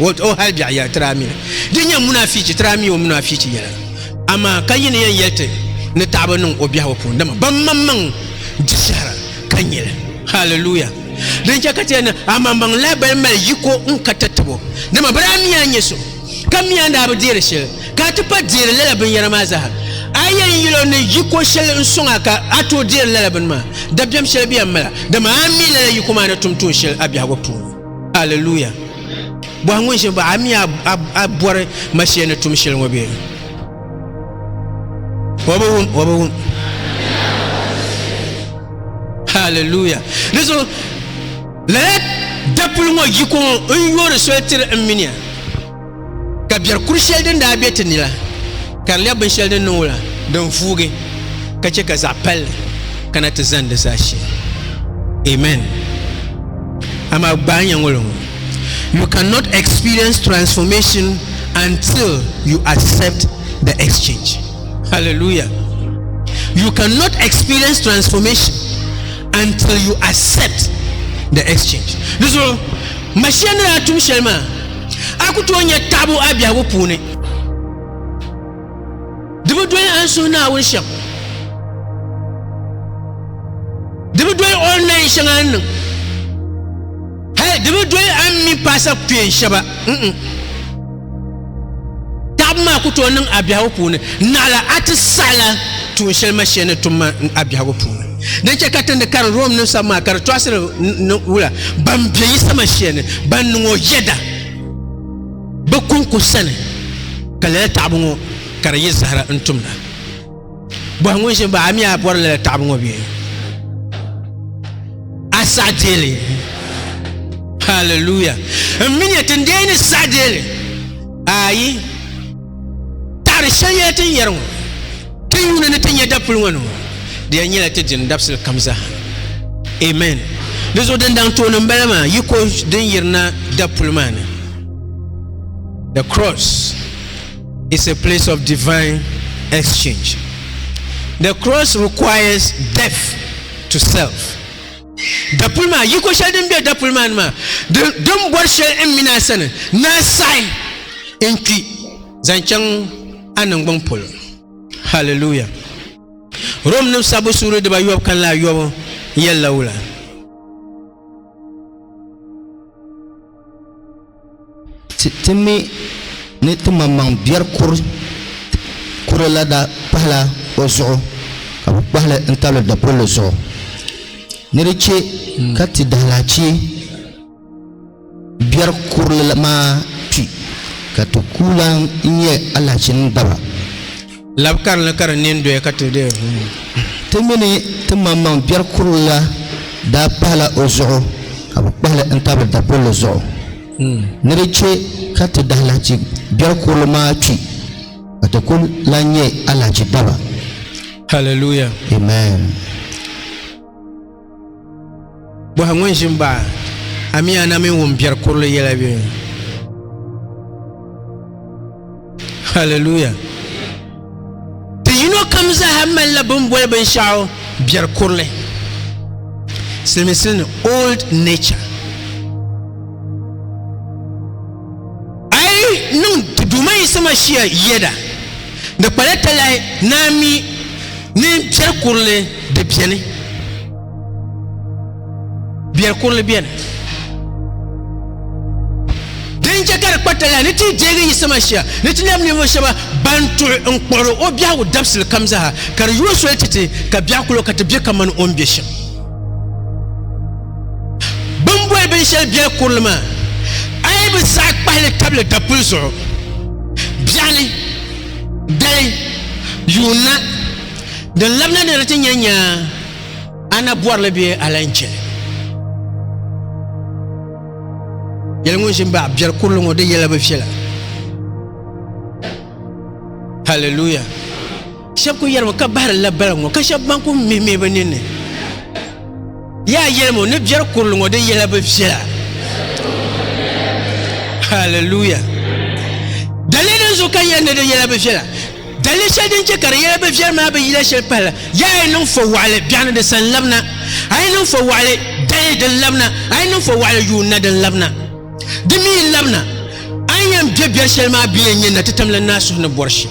Speaker 1: O, o hal biɛɣu yɛli, Ti daa mi li. Di nyɛ munafichi, ti daa mi o munafichi yɛla. Amaa ka yi ni yɛn yɛli ti ni taɣibu niŋ o biɛhigu puuni, dama baŋmaŋmaŋ di shɛhira ka nya li. Haliluya! Din chɛ ka ti yɛli ni amaŋmaŋ lahi bali mali yiko n-ka ti tib o, dama bɛ daa mi a nyɛ so, ka mi a ni daa bi deeri shɛli, ka a ti pa deeri lala binyɛra maa zaa. A yɛn yɛl o ni yiko shɛli n-sɔŋ a ka a tooi deeri lala bini maa, dabiɛm shɛli bɛ yɛn mali a, dama a mi lala yiko maa ni tum tuun shɛli a biɛhigu puuni. Hallelujah. Bɔhi ŋun ʒe baɣa mi a bɔri mashia ni tum shɛli ŋɔ bee? O bi wum, o bi wum. Hallelujah. Di zuɣu lala dapuli ŋɔ yiko ŋɔ n yoori soli tiri m mini ya. Ka biɛri kuri shɛli din daa be ti ni la, ka di lɛbi binshɛli din niŋ o la, din vuugi, ka chɛ ka zaɣ palli kana ti zani di zaashee. Amen. Amaa gbaai n-nyɛ ŋɔlo ŋɔ, You cannot experience transformation until you accept the exchange. Hallelujah. You cannot experience transformation until you accept the exchange. Di zuɣu, Mashia ni daa tum shɛli maa, A ku tooi nya taɣibu a biɛhigu puuni. Di bi doli a ni suhi Naawuni shɛm. Di bi doli o ni nayin shɛŋa ni niŋ. Hal di bi doli a ni mi paasa kpeen shɛba. Taɣibu maa ku tooi niŋ a biɛhigu puuni. Naɣila a ti saɣila tuun shɛli ma shee ni tum ma a biɛhigu puuni. Di chɛ ka ti ni karim Romnim sab maa ka di tɔɣisiri ni wula ban be yi sama shia ni ban niŋ o yɛda bɛ kɔŋko sani, ka lala taɣibu ŋɔ ka di yi zahira n-tumda. Bɔhi ŋun ʒini ba, A mi a bɔri lala taɣibu ŋɔ bee? A saɣi deeli? Hallelujah! M mi ni ti n dee ni saɣi deeli? Ayi! Taɣiri shɛli yɛla tin yɛri ŋɔ, Ti yuuni ni ti nya dapuli ŋɔ ni ŋɔ, di yɛn nyɛla ti dini dabisili kam zaa. Amen. Di zuɣu din daŋ tooni m bala maa, yiko din yirina dapuli maa ni. The cross is a place of divine exchange. The cross requires death to self. Dapuli maa, yiko shɛli din be dapuli maa ni maa, din bɔri shɛli n mini a sani, ni a saɣi n kpi zaŋ chaŋ a niŋgbuŋ polo. Hallelujah! Rom nim sabbu suuri dibayobu kanla ayobu yɛlila wula?
Speaker 2: Ti mi ni timaŋmaŋ biɛri kuri la daa pahila o zuɣu ka bɛ kpahi li n-tabili dapulli zuɣu. Ni di chɛ ka ti dahalahichi biɛri kuri maa kpi ka ti kuu lan nya alahichinim daba. Lab
Speaker 1: karili ka di nini doya ka ti di. Ti mini
Speaker 2: ti maŋmaŋ biɛri kurili la daa pahila o zuɣu ka bɛ kpahi li n-tabili dapulli zuɣu. Ni di chɛ ka ti dahilahichi biɛri kurili maa kpi ka ti kul lan nyɛ alahichi daba. Hallelujah!
Speaker 1: Amen! Bɔhi ŋun ʒi m-baɣ a mi a na mini ŋun biɛri kurili yɛla bɛ ni. Hallelujah. Ti yino kam zaa malila bin boli binshɛɣu biɛri kurili. Siliminsili ni old nature. A yi niŋ di Duuma Yisa Masia yɛda, di kpala talahi ni a mi ni biɛri kurili di beni. Biɛri kurili beni. Din chɛ ka di kpa talahi ni ti deegi Yisa Masia ni ti lab ninvuɣ shɛba ban tuɣi n-kpuɣiri o biɛhigu dabisili kam zaa, ka di yo soli ti ti ka biɛɣu kul o ka ti be kaman o ni be shɛm. Bɛ ni boli binshɛli biɛri kurili maa, a yi bi saɣi kpahi li tabili dapuli zuɣu, biɛɣu ni, dali, yuun na, din labina ni di ti nya nyaa, a na bɔri li bee a lan chɛ li? Yɛli ŋun ʒi m-baɣi biɛri kurili ŋɔ di yɛla bi viɛla. Hallelujah! Shɛb ku yɛlimi ka bahirila baliŋ ŋɔ, ka shɛb ban ku mihimihi bɛ ninni yaa yɛlim o ni biɛri kurili ŋɔ di yɛla bi viɛla. Hallelujah! Daliya din zuɣu ka n yɛli ni di yɛla bi viɛla, daliya shɛli din chɛ ka di yɛla bi viɛli maa bi yila shɛli pahila, yaa a yi niŋ fɔwaɣili biɛɣuni di sa n-labina, a yi niŋ fɔwaɣili dali din labina, a yi niŋ fɔwaɣili yuun na din labina. Di mi yi labina, a ni yɛn be biɛri shɛli maa bɛ yɛn nyɛ na ti tamla naai suhu ni bɔri shɛm.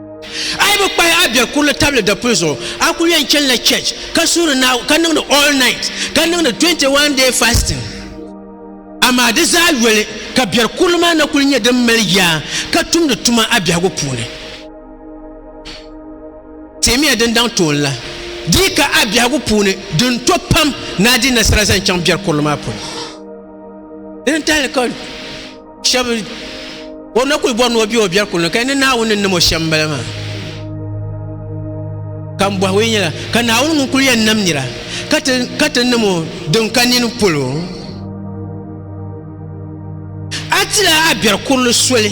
Speaker 1: A yi bi kpahi a bɛ kurili tabili dapuli zuɣu, a kul yɛn chanila church ka suhiri Naawuni ka niŋdi all night ka niŋdi 21 day fasting. Amaa di zaa yoli ka bɛri kurili maa na kul nyɛ din mali yaa ka tumdi tuma a biɛhigu puuni. Teemiya din daŋ tooni la, di yi ka a biɛhigu puuni, din to pam ni a di nasara zaŋ chaŋ bɛri kurili maa polo. Di ni tahili ka shab o na kuli bɔri ni o bɛ o biɛri kuli ni ka ni naawuni ni nam o shɛm bala maa ka n bɔhi o yi nyɛla ka naawuni ŋun kuli yɛn nam nira ka ti nam o din ka nini polo a tila a biɛri kurili soli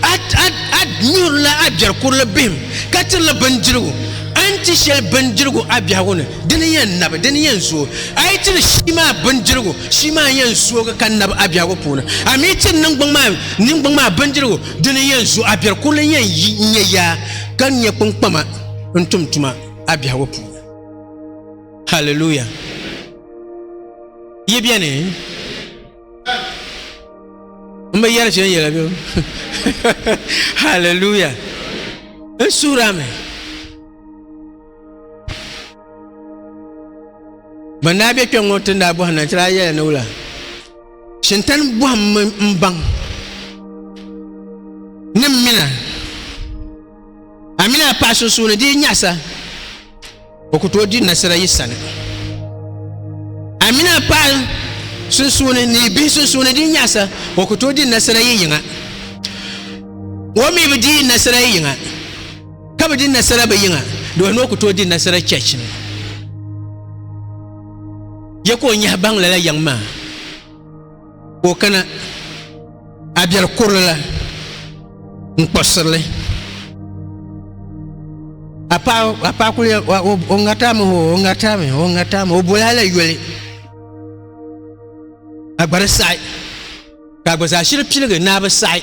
Speaker 1: a nyuhurila a biɛri kurili bihim ka tirila bindirigu a ni ti shɛli bindirigu a biɛhigu ni Di ni yɛn nabi, di ni yɛn zooi. A yi ti ni shii maa bindirigu, shii maa yɛn zoogi ka nabi a biɛhigu puuni. A mi yi ti ni niŋgbuŋ maa, niŋgbuŋ maa bindirigu, di ni yɛn zooi. A biɛri kurili yɛn yi n-nyɛ yaa, ka n-nyɛ kpiŋkpama n-tum tuma a biɛhigu puuni. Hallelujah! Yi beni? M bi yɛri shɛli yɛla bɛ Hallelujah! N suhiri a mi. ban daa be kpɛŋŋo ti ni daa bɔhi na ti daa yɛla ni wula shintan bɔhimmi n baŋ ni m mina a mini a paɣa sunsuuni di yi nyaɣasa o ku tooi di nasara yi sani a mini a paɣa sunsuuni ni yi bihi sunsuuni di yi nyaɣasa o ku tooi di nasara yi yiŋa o mi bi di nasara yi yiŋa Ka bi di nasara bi yiŋa, doo ni o ku tooi di nasara church ni. Ya ka o nyahi baŋ lala yaŋ maa ka o kana a biɛri kurili la n-kpuɣisiri li. A paɣa kuli ya o ŋariti a mi hoo, o ŋariti a mi, o ŋariti a mi, o boli a la yoli. A gba di saɣi ka a gba zaashili piligi ni a bi saɣi.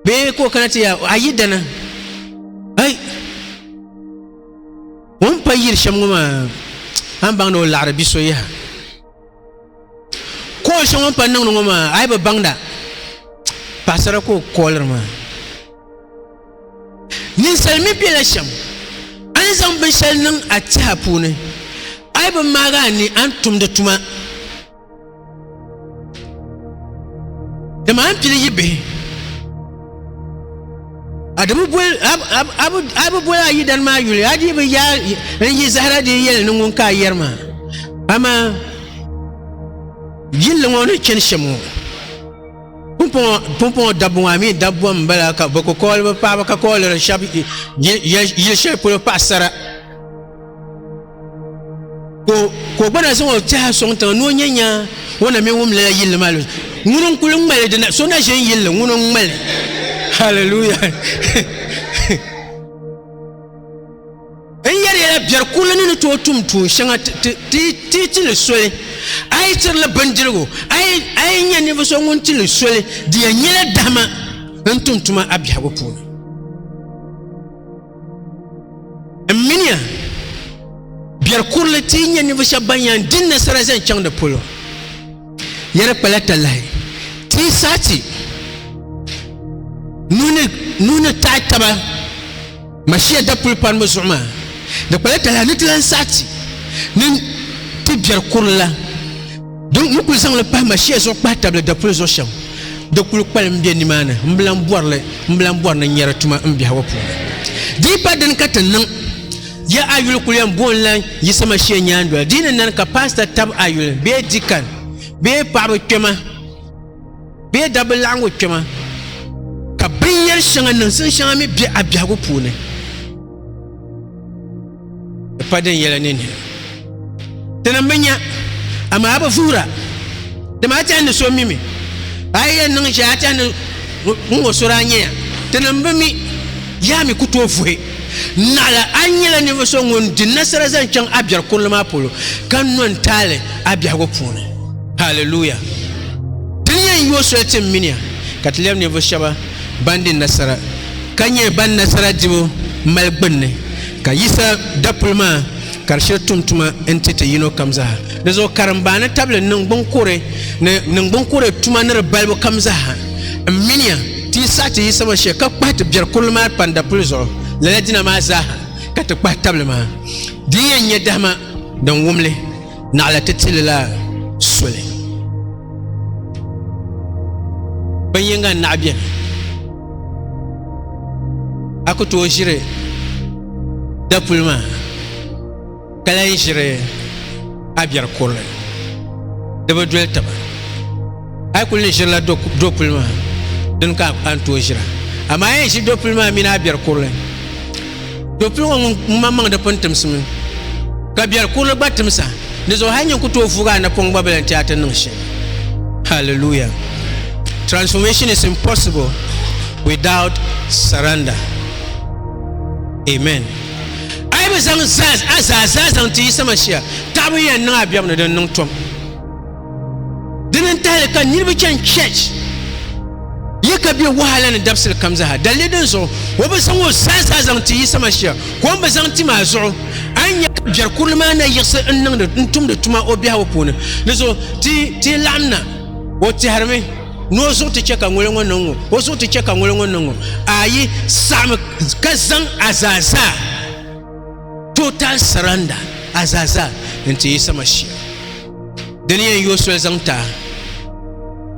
Speaker 1: bee ka o kana ti yaa a yi dana ai o ni pa yiri shɛm ŋɔ maa a ni baŋda o laɣiri bi so yaha ka o shɛŋa o ni pa niŋdi ŋɔ maa a yi bi baŋda paɣasara ka o kooliri maa ninsal mi bela shɛm a ni zaŋ binshɛli niŋ a tiha puuni a yi bi maagi a ni a ni tumdi tuma Di maa pili yi bihi. A di bi boli a bi boli a yidana maa yuli a dii bi yaa n yi zahara dii yɛli ni ŋun ka a yɛri maa amaa yilli ŋɔ ni chani shɛm ŋɔ pumpɔŋɔ dabbu ŋɔ a mi dabbu n bala ka bi ku kɔɔli bi paɣaba ka kɔɔliri shɛba yili shɛli polo paɣasara. ka o gba na zaŋ o teha sɔŋ tiŋa ni o nyɛ nya o na mini wum lala yilli maa lɔzi ŋuni n kuli ŋmali dina so na ʒe n yilli ŋuni n ŋmali hallelujah n yɛri yɛla biɛri kurili ni ni tooi tum tuun shɛŋa ti ti li soli a yi tiri li bindirigu a yi nyɛ ninvuɣu so ŋun ti li soli di yɛn nyɛla dahima n tum tuma a biɛhigu puuni n miniya biɛri kurili ti yi nyɛ ninvuɣu shɛba ban yɛn di nasara zaŋ chaŋ di polo ya di kpala talahi ti yi saɣa ti nuhi ni taɣi taba mashiya dapuli panibu zuɣu maa di kpala talahi ni ti lan saɣa ti ni ti biɛri kurili la Dɔn ni kuli zaŋli pahi ma shia zuɣu kpahi tabili dapuli zuɣu shɛm di kuli kpalim be nimaani m bilan bɔrili m bilan bɔri ni nyɛri tuma m biɛhigu puuni. Di yi pa dini ka ti niŋ ya a yuli kuli yɛn booi n-lan yiɣisi ma shia nyaandoli di yi ni nani ka paasita tab a yuli bee dikan bee paɣaba kpɛma bee dabba laɣingu kpɛma ka binyɛri shɛŋa niŋsim shɛŋa mi be a biɛhigu puuni. Di pa din yɛla ninni. Tinim bi nya, amaa bi vuhira. Dama a tɛhi ni so mi mi. A yi yɛn niŋ shɛli a tɛhi ni ŋun o so daa nyɛ ya. Tinim bi mi, yaa mi ku tooi vuhi. Naɣila a nyɛla ninvuɣ so ŋun di nasara zaŋ chaŋ a biɛri kurili maa polo, ka no n-taali a biɛhigu puuni. Haleluya! Ti ni yɛn yo soli ti mini ya, ka ti lɛbi ninvuɣ shɛba. ban di nasara ka nyɛ ban nasara dibu mali gbunni, ka Yisa dapuli maa ka di shiri tum tuma n-ti ti yino kam zaa. Di zuɣu karimba ni tabili niŋgbuŋkuɣiri ni niŋgbuŋkuɣiri tuma ni di balibu kam zaa m-minia ti yi saɣi ti Yisa maa shee ka kpahi ti biɛri kurili maa kpani dapuli zuɣu, lala dina maa zaa ha ka ti kpahi tabili maa. Di yi yɛn nyɛ dahima din wum li. naɣila ti tilila soli bin yinga n naɣi biɛni a ku tooi ʒiri dapuli maa ka lahi ʒiri a biɛri kurili di bi doli taba A yi kuli ni ʒirila dopuli maa dini ka a ni tooi ʒira amaa a yɛn ʒi dopuli maa mini a biɛri kurili dopuli ŋɔ ŋun maŋ maŋ di pun timsimi ka biɛri kurili gba timsa di zuɣu hali nyin ku tooi vuugi a napɔŋ gba bi lan chɛ a ti niŋ shɛm hallelujah transformation is impossible without surrender amen a yi bi zaŋ a zaa zaa zaŋ ti Yisa Masia taɣibu yɛn niŋ a biɛbu ni din niŋ tom Dini n tahili ka niriba chani church ye ka be wahala ni dabisili kam zaha dalili din zuɣu o bi zaŋ o zaa zaa zaŋ ti Yisa Mashia ka o ni bi zaŋ ti maa zuɣu a ni nya ka biɛri kurili maa na yiɣisi n niŋdi n tumdi tuma o biɛhigu puuni di zuɣu ti ti laɣim na o tɛhirimi ni o zuɣu ti chɛ ka ŋuli ŋɔ niŋ ŋɔ o zuɣu ti chɛ ka ŋuli ŋɔ niŋ ŋɔ ayi saɣimi ka zaŋ a zaa zaa Total surrender, Azaza, n ti Yisa Mashia. Di ni yɛn yooi soli zaŋ ti a.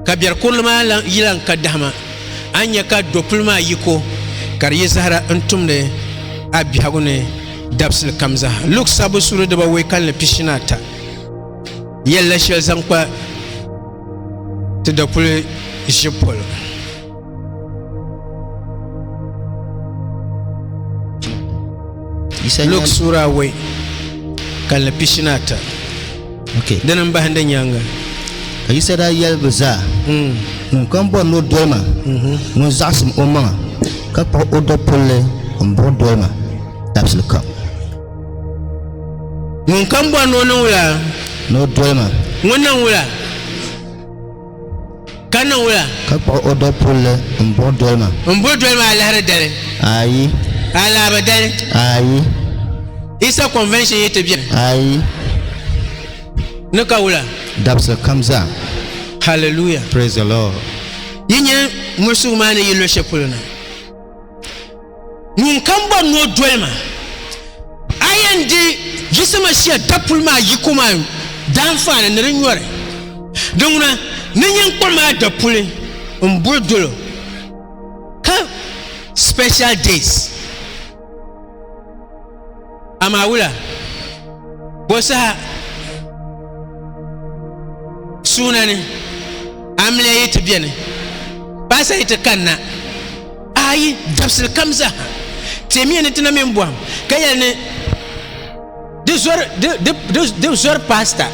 Speaker 1: Ka biɛri kurili maa yi lan ka dahima, a ni nya ka dopuli maa yiko ka di yi zahara n tumdi a biɛhigu ni dabisili kam zaa. Luk sabbu suuri dibawei kalinli pishinaata yɛlila shɛli zaŋ kpa ti dopuli ʒibu polo. Luk sura awɔi ka li pishi ni ata
Speaker 2: dini n bahindi
Speaker 1: nyaaŋa. Ka Yisa daa
Speaker 2: yɛli bɛ zaa, hmm. Ŋunkam bɔri ni o doli ma, mhm. ŋun zaɣisim o maŋa ka kpuɣi o dapulli m-buɣi doli ma dabisili kam.
Speaker 1: Ŋunkam bɔri ni o niŋ wula? Ni o doli ma.
Speaker 2: Ŋun niŋ wula?
Speaker 1: Ka niŋ wula? Ka kpuɣi o dapulli
Speaker 2: m-buɣi doli ma. M-buɣi doli ma alahiri
Speaker 1: dali? Ayi.
Speaker 2: Alaaba dali?
Speaker 1: Ayi.
Speaker 2: Isa
Speaker 1: convention yi ti beni? Ayi. Ni ka wula? Dabisili kam zaa.
Speaker 2: Hallelujah.
Speaker 1: Praise the Lord.
Speaker 2: Yi nya
Speaker 1: muɣisigu maa ni yi luɣishɛli polo na? Ŋun kam bɔri ni o doli ma, a yɛn di Yisimashia dapuli maa yiko maa daanfaani ni di nyɔri. Di ŋuna, ni nyin kpɔri maa dapuli m-buri dolo, ka special days. Amaa wula bo saha suuna ni amiliya yi ti beni paasa yi ti kanna ayi dabisili kam zaha timiya ni tina mini bɔhim ka yɛli ni di zɔri paasita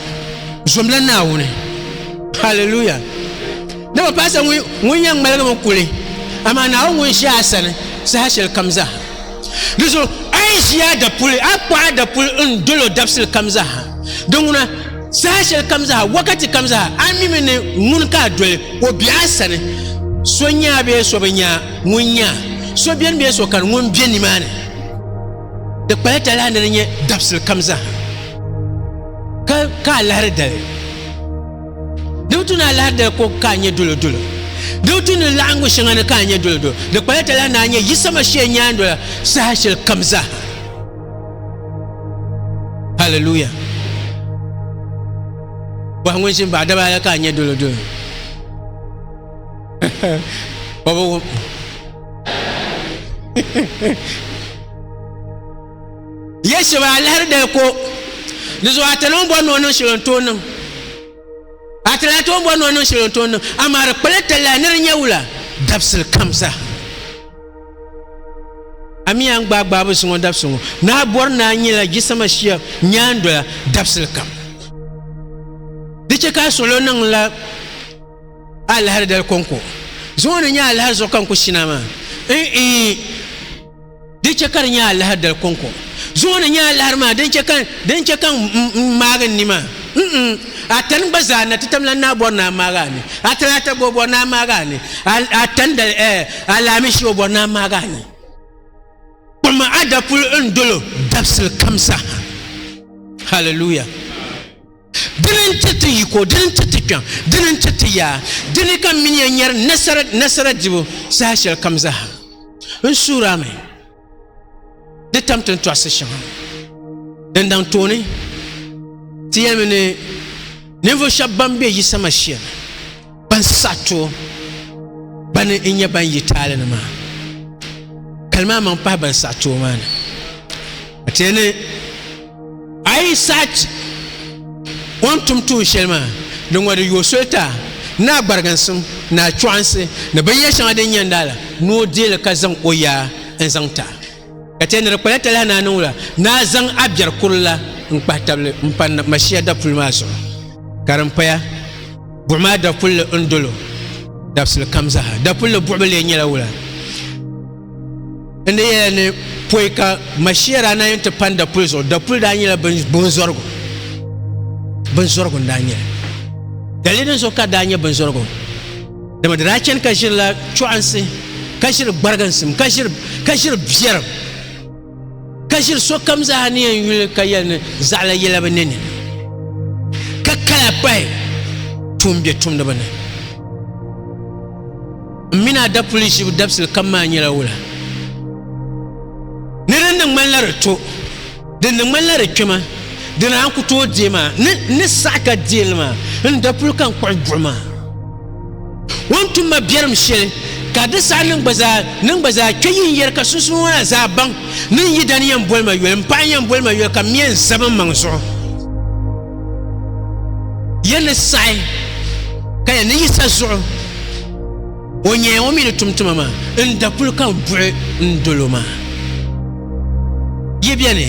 Speaker 1: zomla naawuni haleluya dama paasita ŋun yɛn ŋmaligimi kuli amaa naawuni ŋun ʒi a sani saha shɛli kam zaha Di zuɣu a yi ʒi a dapuli, a kpuɣi a dapuli n-dol o dabisili kam zaaha. Di ŋuna, saha shɛli kam zaaha, wakati kam zaaha, a mimi ni ŋun ka a doli o be a sani, so nya a bee so bi nya a, ŋun nya a, so beni bee so kani, ŋun be nimaani. Di kpala talahi ni di nyɛ dabisili kam zaaha ka ka a lahiri dali. Di bi tu ni alahidali ko ka a nyɛ dolodolo. Di bi tu ni laɣingu shɛŋa ni ka a nyɛ dolodolo. Di kpala ti la ni a nyɛ Yisa Mashia nyaandola saha shɛli kam zaa. Haleluya! Bɔhi ŋun ʒini baɣa daba la ka a nyɛ dolodolo. O bi wum. Ya shɛba a lahiri dali ko, di zuɣu a ti lan bɔri ni o niŋ shɛli n tooi niŋ. A ti lan tooi bɔri ni o niŋ shɛli n tooi niŋ, amaa di kpala talahi ni di nya wula dabisili kam zaa. A mi a ni gbaai gbaabu ziŋɔ dabisili ŋɔ, ni a bɔri ni a nyɛla jisama shia nyaandola dabisili kam. Di chɛ ka a suɣilo niŋla a lahiri dali kɔŋko ziŋɔ ni nyɛ a lahiri zuɣu ka n ku shina maa? N-ii! Di chɛ ka di nya alahiri dali kɔŋko zuɣu ni nya alahiri maa din chɛ ka din chɛ ka n maagi n ni maa. N-n, a tani gba zaa na ti tam lan naa bɔri ni a maagi a ni. A tali a tagbo bɔri ni a maagi a ni. A, a tani dali ɛɛ alaamishi o bɔri ni a maagi a ni. Kpam a dapuli n dol o dabisili kam saha. Hallelujah. Dini n-ti ti yiko, dini n-ti ti kpiɔŋ, dini n-ti ti yaa, dini ka m mini ya nyari nasara, nasara dibu, saha shɛli kam zaa. N suhir a mi di tam ti ni tɔɣisi shɛŋa din daŋ tooni ti yɛlimi ni ninvuɣ shɛb bɛn be Yisa Mashia ni. ban sa to bani n nyɛ ban yi taali ni maa kalima maŋ pahi ban sa to maa ni a tiɛ ni a yi sachi o ni tum tuun shɛli maa di ŋɔ di yooi soli ta ni a gbariginsim ni a chɔɣinsi ni binyɛr shɛŋa din nyɛ n daala ni o deei li ka zaŋ o yaa n-zaŋ ta ka chɛ ni di kpala talahi ni a niŋ la ni a zaŋ a biɛri kurili n kpahi tabili n pa Mashia dapuli maa zuɣu ka din paya buɣi maa dapulli n dolo dabisili kam zaha dapulli buɣi bi lee nyɛla wula n ni yɛla ni poi ka Mashia daa na yɛn ti pani dapuli zuɣu dapuli daa nyɛla binzɔrigu binzɔrigu n daa nyɛli dalili din zuɣu ka daa nyɛ binzɔrigu dama di daa chɛni ka ʒirila chɔɣinsi ka ʒiri gbariginsim ka ʒiri ka ʒiri biɛrim ka ʒiri sokam zaa ni yɛn yuli ka yɛli ni zaɣila yɛla bi nini ka kala pahi tuun bɛ tumdiba ni n mini a dapuli ʒibu dabisili kam maa nyɛla wula ni din ni ŋmanila di to Di ni ŋmanila di kpɛma, di ni a ni ku tooi deei maa, ni n ni saɣi ka deei li maa, n ni daa puli ka n-kpuɣi buɣim a. O ni tum ma biɛrim shɛli, ka di saha ni n gba zaa ni n gba zaa kpe yi ni yɛri ka sunsuuni ŋɔ na zaa baŋ ni n yidana yɛn boli ma yoli, m paɣa yɛn boli ma yoli ka m mi yɛn zab n maŋ zuɣu. Yɛn ni saɣi ka yɛn ni yiɣisa zuɣu. O nyɛya ŋɔ mi ni tum tuma maa n-da kul kan buɣi n dolo maa. Yi beni,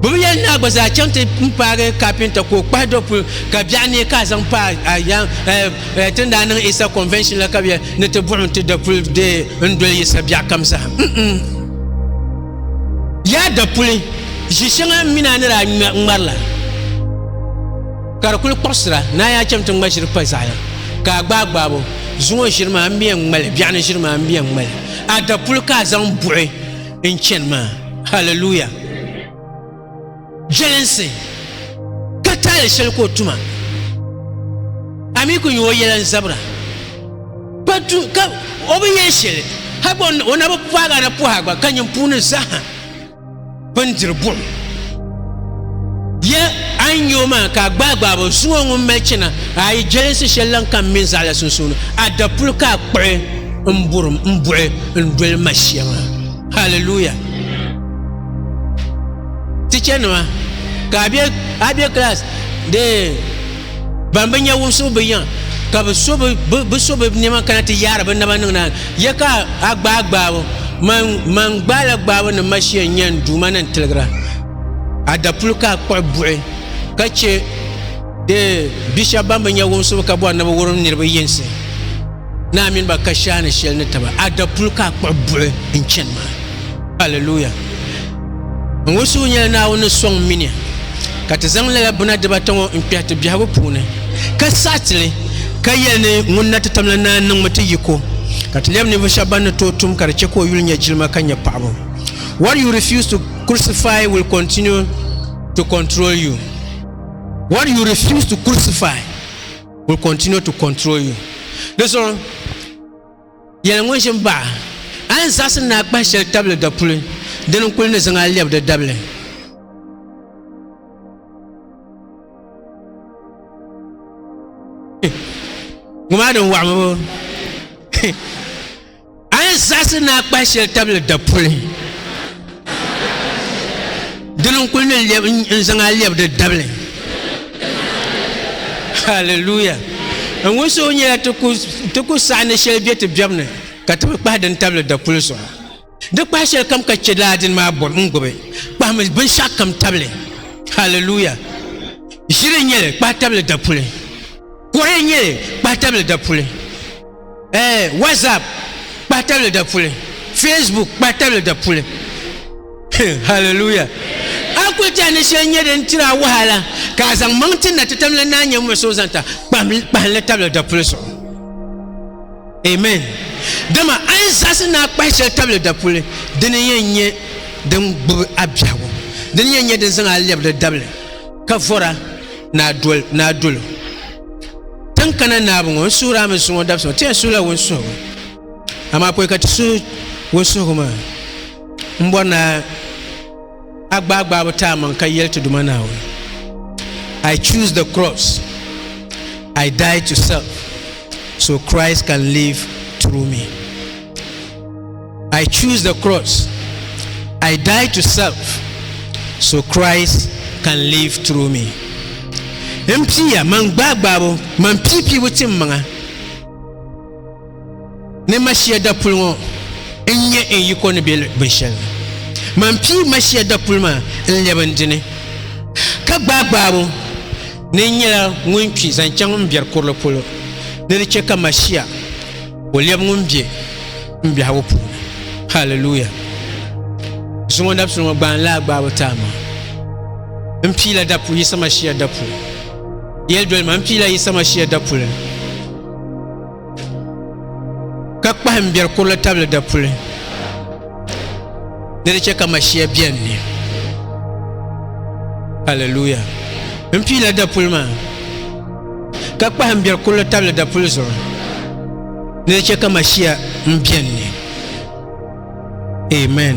Speaker 1: bɛ bi yɛli ni a gba zaa chaŋ ti n paagi kapinta ka o kpahi do pul ka biɛɣu neei ka a zaŋ pa a yaŋ ti ni daa niŋ Easter convention la ka bɛ yɛli ni ti buɣim ti da pul deei n doli Yisa biɛɣu kam zaa. M-m. Yaa da puli, ʒi shɛŋa m mi ni a ni daa ŋmari la. Ka di kuli kpuɣisira ni a yaa cham ti ŋma ʒiri pa zaɣaya, ka a gbaai gbaabo, zuŋɔ ʒiri maa m biɛn ŋmali, biɛɣuni ʒiri maa m biɛn ŋmali, a dapuli ka a zaŋ buɣi n chani maa. Hallelujah! Jelinsi ka taali sheli ka o tuma, a mi ku nya o yela n zabira, ka tu ka o bi yen sheli, hagba o na bi paagi a na pɔhi a gba ka nyin puuni zaha. bindiri buɣum. Ya a ni nya o maa ka a gbaagbaab o zuŋɔ ŋun mali chana a yi jelinsi shɛli lan ka m mini zaɣila sunsuuni, a dapuli ka a kpuɣi n burim m buɣi n doli ma shɛŋa. Hallelujah! Tichanima, ka a be a be class dee. Ban bi nya wumsibu bi yiŋ, ka bi so bi so bi nɛma kana ti yaari bi naba niŋ naani, ya ka a gbaai gbaabu, man, man gbaai la gbaabu ni ma shia n-nya n Duuma ni n-tiligira a dapuli ka a kpuɣi buɣi ka chɛ di bi shɛba ban bi nya wumsibu ka bɔri ni bi wurim niriba yinsi naa mini ba kashaani shɛli ni taba a dapuli ka a kpuɣi buɣi n-chani maa. Hallelujah! Ŋun suhu nyɛla Naawuni ni sɔŋ mini ya, ka ti zaŋ lala buna dibata ŋɔ n-kpɛhi ti biɛhigu puuni, ka saɣi ti li, ka yɛli ni ŋun na ti tam la naai niŋmi ti yiko, ka ti lɛbi ninvuɣ shɛba ban ni tooi tum ka di chɛ ka o yuli nya jilima ka nya paɣibu. What you refuse to crucify will continue to control you. What you refuse to crucify will continue to control you. Di zuɣu. Yɛli ŋun ʒi m-baɣ a ni zaɣisi ni a kpahi shɛli tabili dapuli, dini n-kul ni zaŋ a lɛb di dabili. Ŋumaa din waɣ ŋɔ bɔ? A ni zaɣisi ni a kpahi shɛli tabili dapuli. dini n kuli ni lɛb n zaŋ a lɛb di dabili haleluya n ŋun so nyɛla ti ku saɣa ni shɛli bɛ ti biɛbu ni ka ti bi kpahi din tabili dapuli zuɣu di kpahi shɛli kam ka chɛ laa dini maa bɔri n gbubi kpahimi binshaɣu kam tabili haleluya ʒiri n nyɛli kpahi tabili dapuli kɔre n nyɛli kpahi tabili dapuli Eh, WhatsApp kpahi tabili da puli, Facebook kpahi tabili da puli. Hallelujah. A kuli tɛha ni shɛli nyɛ din tiri a wahala ka a zaŋ maŋ ti na ti tam la naa nyɛ ŋun so zaŋ ta kpahinli tabili da puli zuɣu. Amen. Dama a yi zaɣisi ni a kpahi shɛli tabili da puli, dini yɛn nyɛ din gbubi a biɛhigu. Dini yɛn nyɛ din zaŋ a lɛbi di dabili ka vɔra. na dol na dol tin kana naabu ŋɔ n suhuri a mi suŋɔ dabisi ŋɔ ti yɛn suhula wunsuhigu amaa pɔi ka ti suhi wunsuhigu maa n bɔri na a gbaai gbaabu ti a maŋ ka yɛli ti duma naawuni I choose the cross I die to self so Christ can live through me I choose the cross. I die to self so Christ can live through me. M pia man gbaagbaabu man piipiibu tim maŋa ni mashia dapuli ŋɔ n nyɛ n yiko ni bɛ binshɛli man pii mashia dapuli maa n lɛbi n dini ka gbaagbaabu ni n nyɛla ŋun kpi zaŋ chaŋ n biɛri kurili polo ni di chɛ ka mashia ka o lɛbi ŋun be m biɛhigu puuni haliluya zuŋɔ dabisili ŋɔ gbaani laa gbaabu taa maa n piila dapu yisa mashia dapu yɛli doli ma n piila yisa mashia dapuli ka kpahi n biɛri kurili tabili dapuli ni di chɛ ka mashia biɛni ni haliluya n piila dapuli maa ka kpahim biɛri kurili tabili dapuli zuɣu ni di chɛ ka Mashia m-beni ni. Amen.